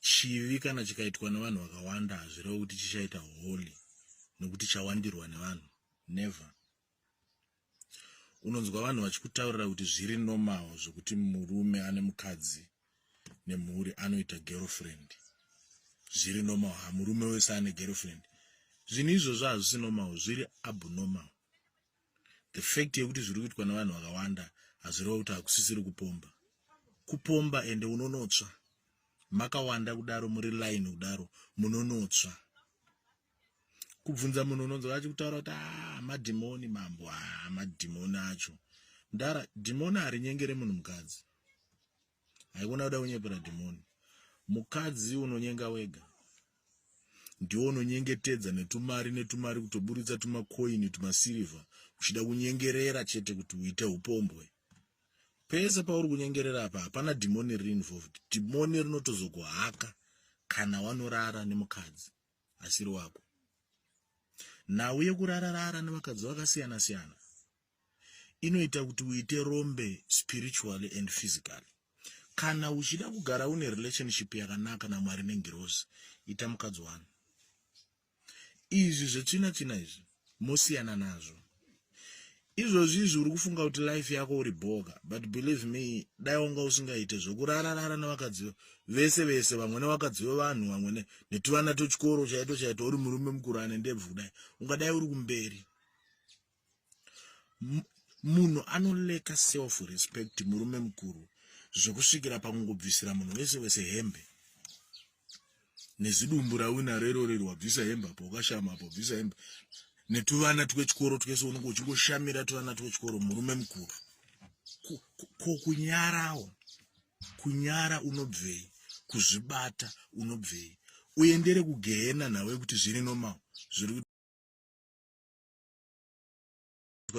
chivi kana chikaitwa nevanhu vakawanda hazvirevo kuti chichaita holy nekuti chawandirwa nevanhu never unonzwa vanhu vachikutaurira kuti zviri normal zvekuti murume ane mukadzi nemhuri anoita girlfriend zviri normal ha murume wese ane girlfriend zvinhu izvozvo hazvisi normal zviri abnormal the fact yekuti zviri kuitwa nevanhu vakawanda hazvireva kuti hakusisiri kupomba kupomba ende unonotsva makawanda kudaro muri line kudaro munonotsva kubvunza munhu unonzwa achi kutaura kuti ah, madhimoni mambo ah, madhimoni acho ndara dhimoni harinyengere munhu mukadzi haikona kuda kunyepera dhimoni mukadzi unonyenga wega ndiwo unonyengetedza netumari netumari kutoburitsa tumakoini tumasirivha uchida kunyengerera chete kuti uite upombwe pese pauri kunyengerera apa hapana dhimoni riri involved dhimoni rinotozokuhaka kana wanorara nemukadzi asiri wako nhau yekurararara nevakadzi vakasiyana siyana inoita kuti uite rombe spiritually and physically kana uchida kugara une relationship yakanaka namwari nengirozi ita mukadzi wani izvi zvetsvina tsvina izvi mosiyana nazvo izvozvi izvi uri kufunga kuti life yako uri boga but believe me dai wanga usingaite zvekurararara nevakadzi vese vese vamwe nevakadzi vevanhu vamwe netuvana tochikoro chaito chaito uri murume mukuru ane ndebvu kudai ungadai uri kumberi munhu anoleka self respect murume mukuru zvekusvikira pakungobvisira munhu wese wese hembe nezidumbu rawina rerorerwa bvisa hembe apo ukashama apo bvisa hembe netuvana twechikoro twese unenge uchingoshamira tuvana twechikoro murume mukuru ko kunyarawo kunyara unobvei kuzvibata unobvei uendere kugehena nawe kuti zviri normal zviri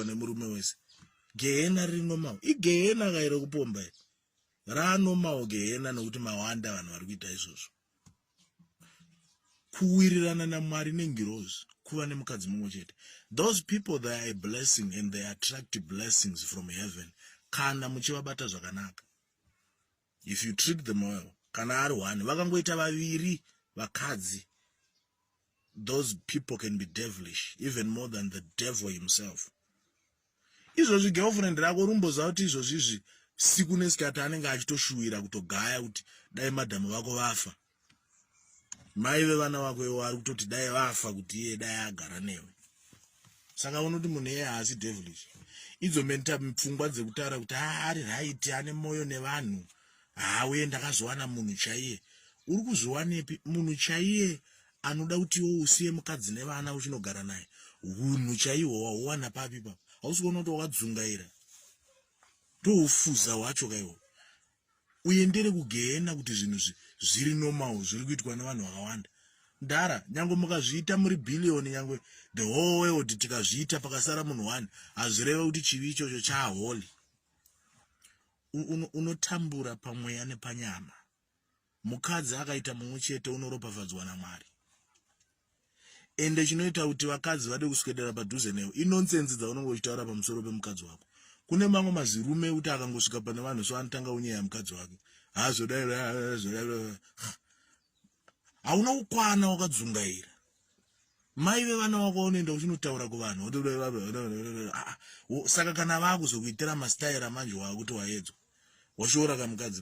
nemurume wese gehena riri normal igehena kaire kupomba iri raanormal gehena nokuti mawanda vanhu vari kuita izvozvo kuwirirana namwari nengirozi kuva nemukadzi mumwe chete those people they are a blessing and they attract blessings from heaven kana muchivabata zvakanaka if you trick them well kana ari one vakangoita vaviri vakadzi those people can be devilish even more than the devil himself izvozvi girlfriend rako rumboziva kuti izvozvi izvi siku nesikati anenge achitoshuwira kutogaya kuti dai madhamu vako vafa mai vevana vako ivo vari kutoti dai vafa kuti iye dai agara newe saka unoti munhu eye haasi devilish idzo menta pfungwa dzekutaura kuti haa ari raiti ane mwoyo nevanhu haa uye ndakazowana munhu chaiye uri kuzviwanepi munhu chaiye anoda kuti iwo usiye mukadzi nevana uchinogara naye hunhu chaihwo wahuwana papi papa hausi kuona kuti wakadzungaira ndoufuza hwacho kaiwo uendere kugehena kuti zvinhu zviri normal zviri kuitwa nevanhu vakawanda ndara nyange mukazviita muri billion nyange the whole world tikazviita pakasara munhu one hazvireve kuti chivi ichocho chaholy unotambura pamweya nepanyama mukadzi akaita mumwe chete unoropafadzwa namwari ende chinoita kuti vakadzi vade kuswedera padhuze newe inonsense dzaunenge uchitaura pamusoro pemukadzi wako kune mamwe mazirume ekuti akangosvika pane vanhu so anotanga unyeya mukadzi wake hazvodaizvodaizvo hauna kukwana wakadzungaira mai vevana wako vaunoenda uchinotaura kuvanhu ah, ah, saka kana vakuzokuitira mastaira manje waakuti waedzwa washoora kamukadzi